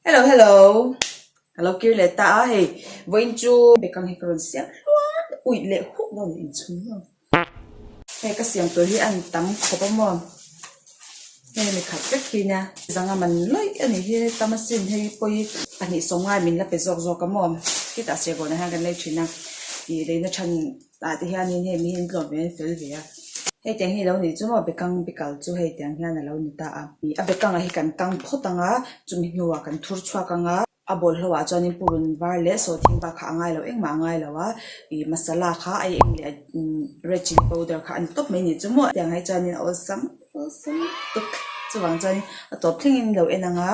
Hello hello ka lo kir leh ta a hei vawiin chu background hi ka rawn siam hluang ui leh huh lo in chhun maw hei ka siam tur hi a han tam khawp a maw hei mi khat vek hi nia zang a man lawi a nih hi heta machine hei hi pawh hi pahnih sawm ngai min la pe zawk zawk a maw khitah serbawnah hian kan lei thin a ih daihna than-- Tah te hianin hei mi hi an tlawm ve an fel ve a. Hei tiang hi a lo ni chu maw? Bekang bikal chu hei tiang hian a lo ni ta a. A bekanga hi kan kang phawt ang a, chumi hnuah kan thur chhuak ang a. A bawlhlo ah chuanin purun var leh sawhthing var kha a ngai lo engmah a ngai lo a, ih masala kha a eng leh a red chilli powder kha a ni tawp mai ni chu maw? Tiang hi chuanin a awlsam awlsam tuk. Chuvang chuan a tawp thlengin in lo en ang a,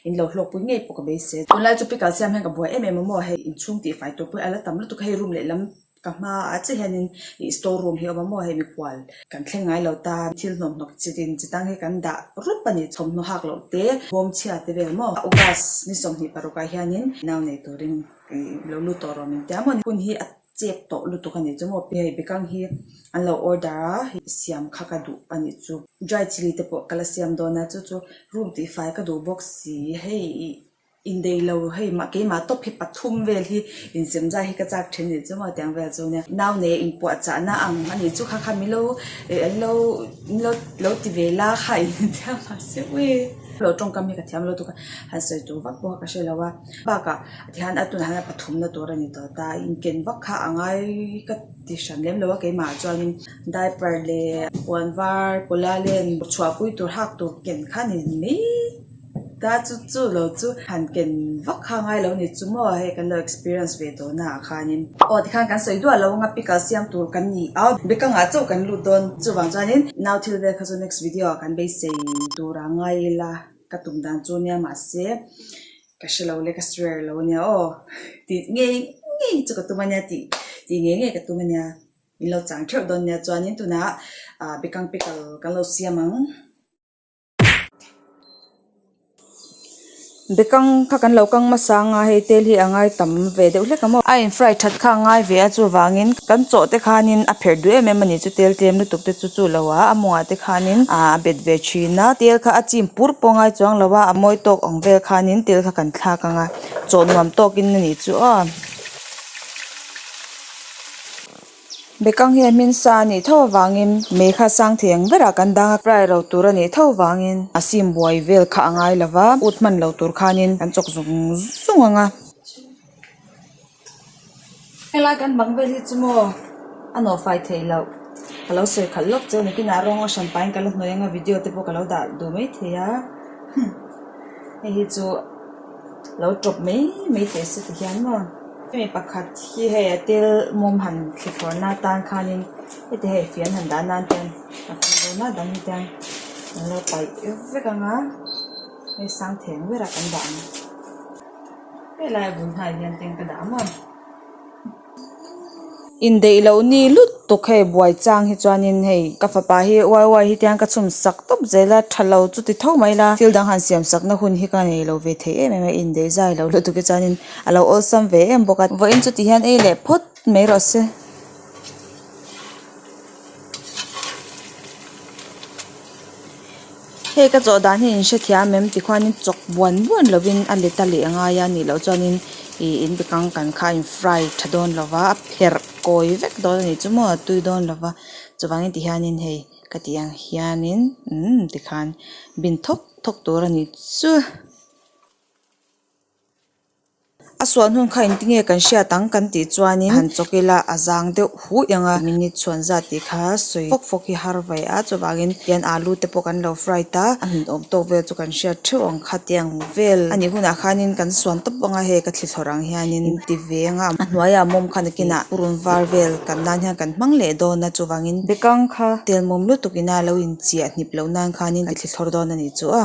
in lo hlawk pui ngei pawh ka beisei. Tunlai chu pickle siam hian ka buai em em a maw hei inchhung tihfai tur pawhin a la tam lutuk a, hei rum leh lam. Ka hma ah chiah hian in ih store room hi a awm a maw hei mikual. Kan thleng ngai lo ta thil hnawk hnawk chi din chi dang hi kan dah rup a ni. Thawmhnaw hak loh te, bawm chhia te vel maw. August ni sawmhnih paruk ah hian in nau nei tur in ih lo lut tawh reng tia maw ni. Hun hi a chep tawh lutuk a nih chu maw. Hei bikang hi an lo order a siam kha ka duh a nih chu. Dry chilli te pawh ka la siam dawn a chu chu room tih fai ka duh bawk si hei ih. Indeilo hei mah keimah tawp hi pathum vel hi insemzai hi ka chak thin ni chu maw tiang vel chu nia. Nau nei in puah chah na ang a nih chu kha kha milo lo milo lo ti ve la kha in tia mah se ui. Lo tawngkam hi ka thiam lo tuk a han sawi tur vak pawh ka hre lo a bakah tihan a tunah hian a pathum na tur a ni ta ta in ken vak kha a ngai ka ti hran lem lo a keimah chuanin diaper leh puan var pula len chhuah pui tur hak tur ken kha ni mai. Ta chu chu lo chu han ken vak kha ngai lo ni chu maw hei kan lo experience ve tawh na ah khan in aw ti khan kan sawi duah lo ang a pickle siam tur kan ni a bekanga chauh kan lut dawn chuvang chuan in nau thil vel kha chu next video ah kan beisei tura ngai ila ka tum dan chu nia mahse ka hre lo leh ka swer lo nia aw tih ngei ngei chu ka tum ania tih tih ngei ngei ka tum ania in lo chang theuh dawn nia chuan in tunah bekang pickle kan lo siam ang. be kang kha kan lo kang hmasa anga hei tel hi a ngai tam ve deuh hlek a maw a in fry that kha a ngai ve a chuvangin kan chaw te khanin a pherh duh em em a ni chu tel tlem lutuk te chu chu lo a a mawngah te khanin ah a bet ve thin a tel kha a chim pur pawh a ngai chuang lo a a mawi tawk awng vel khanin tel kha kan thlak anga chaw nuam tawkin a nih chu aw. Bekang hi a hmin sa a nih tho avangin mei kha sang thei ang berah kan dang a, rai ro tur a nih tho vangin a sin buai vel kha a ngai lo va, ut hman lo tur khanin kan chawk zung zung ang a. Helai kan bang vel hi chu maw a nawh fai thei loh, ka lo sawi khalh lawk che, nakinah rawng a hran pahin ka la hnawi ang a, video te pawh ka lo dah duh mai thei a, hum, hei hi chu. lo tawp mai mai teh se ti hian maw hemi pakhat hi hei a thil mawm han thli thawh na tan khanin heti hei fian han dah nan ten a tam dawn a dang hian an lo paih vek vek ang a hei sang theng ber a kan dah ang helai a bul hnai hian tingka dah ang maw. indaih loh ni lutuk hei buai chang hi chuanin hei ka fapa hi uai uai hi tiang ka chhum sak tawp zel a tha lo chu ti tho mai la thil dang han siam sakna hun hi ka nei lo ve thei em em a indaih zai loh lutuk hi chuanin a lo awlsam ve em bawk a vawiin chuti hian ei leh phawt mai rawh se. Hei ka chawh dan hi in hrethiam em ti khuan in chawk buan buan lo in a let a leh ngai a nih loh chuan in ih in bikang kan kha in fry tha dawn lo va a pherh kawi vek dawn a nih chu maw a tui dawn lo va chuvang in ti hian in hei ka tih ang hian in umm ti khan bin thawk thawk tur a nih chuh. A suan hun kha engtin nge kan hriat ang kan tih chuanin han chawk ila a zang deuh huh eng a minute chhuan zat tih kha sawi fawk fawk hi har vai a chuvangin pian alu te pawh kan lo fry ta a min awm tawk vel chu kan hriat theuh ang khati ang vel a nih hunah khanin kan suan tawp vang a hei ka thlithlawrh ang hianin in ti ve ang a hnuaia mawm kha nakinah purun var vel kan nan hian kan hmang leh dawn a chuvangin bekang kha tel mawm lutuk ina lo inchia hnip loh nan khanin ka thlithlawrh dawn a nih chu a.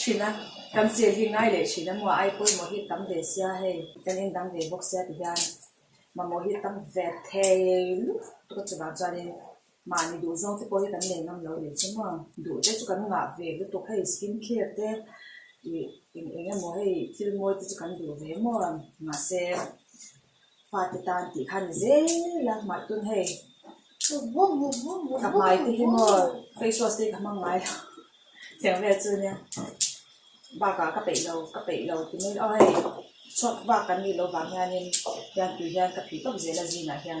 thin a, kan sil hi ngai leh thin a, maw ai pawh i mawhil tam ve sia hei, kan indang ve bawk sia ti hian mamawh hi tam ve thei luh tuk a, chuvang chuanin mahni duh zawng te pawh hi kan nei ngam lo leh chu maw, duh te chu kan ngah ve lutuk hei skin care te ih eng eng emaw hei thil mawi te chu kan duh ve maw, mahse. Fate tan tih kha ni zel a, hmai tun hei. Ka hmai te hi maw, face wash te i ka hmang ngai lo. Thleng vel chu nia, bakah ka peih lo, ka peih lo ti mai lo. Hei chhuak bak kan nih loh vang hianin, hian tui hian ka phih tawp zel a zinah hian.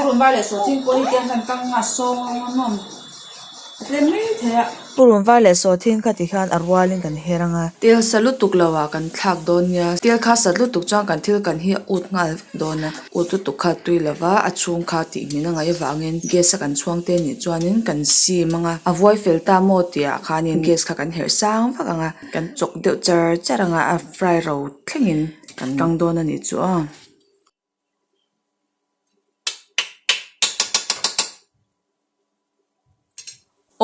Purun var leh saw thin kha ti khan a rual in kan her anga. Tel sa lutuk lo ah kan thlak dawn nia. Tel kha sat lutuk chuan kan thil kan hi ut nghal dawn a. Ut lutuk kha tui lo va a chhung kha tih hmel a ngaih avang in gas a kan chhuang te nih chuan in kan sim anga. A vuai fel ta maw tih ah khan in gas kha kan herh sang vak ang a. Kan chawk deuh char char ang a, a fry ro thleng in kan kang dawn a nih chu ang.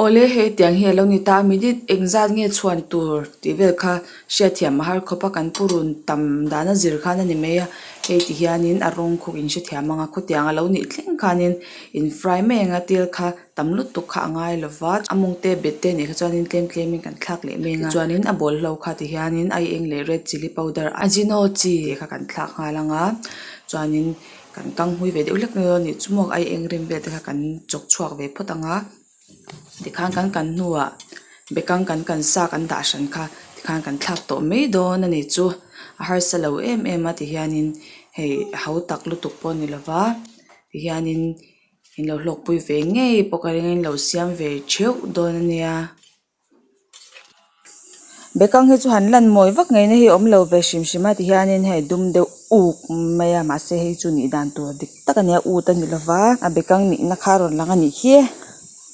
Awle hetiang hi a lo ni ta a minute engzat nge chhuan tur tih vel kha hriatthiam a har khawp a kan pu run tam dana zir khan a ni mai a hei ti hian in a rawng khawk in hrethiam ang a khawtiang a lo nih thleng khan in in fry mai ang a tel kha. tam lutuk kha a ngai lo va, a mawngte bet te nih kha chuanin tlem tlemin kan thlak leh meng a, tichuanin a bawl hlo kha ti hianin a i eng leh red chilli powder a Ajino chi te kha kan thlak nghal anga chuanin kan kang hui ve deuh hlek mai lo a nih chumuak a i eng rem vel te kha kan chawk chhuak ve phawt anga tikhan kan kan hnuah bekang kan kan sa kan dah hran kha tikhan kan thlak tawh mai dawn a nih chu a harsa lo em em a ti hianin hei a ho tak lutuk pawh a ni lo va ti hianin. In lo hlawkpui ve ngei pawh ka ring a, in lo siam ve theuh dawn a nia. Bekang hi chu han lan mawi vak ngei na hi awm lo ve hrim hrim a ti hian in hei dum deuh uk mai a mahse hei chu nih dan tur dik tak a nia ût a ni lo va a bekang nihna kha a rawn lang a nih hiê.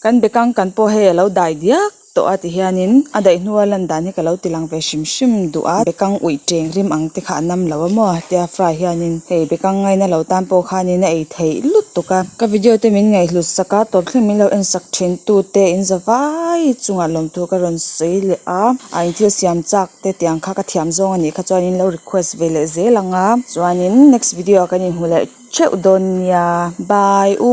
Kan bekang kan pawh hei a lo dai diak. tawh a ti hianin a daih hnu a lan dan hi ka lo ti lang ve hrim hrim duh a bekang ui cheng rim ang te kha a nam lo a maw tia fry hianin hei bekang ngaih na lo tan pawh khanin a ei theih lutuk a. Ka video te min ngaihhlut sak a tawp thleng min lo en sak thin tu te in za vai chungah lawm tur ka rawn sawi leh a a in thil siam chak te tiang kha ka thiam zawng a nih kha chuan in lo request ve leh zel ang a chuanin next video ah kan inhmu leh theuh dawn nia bye u.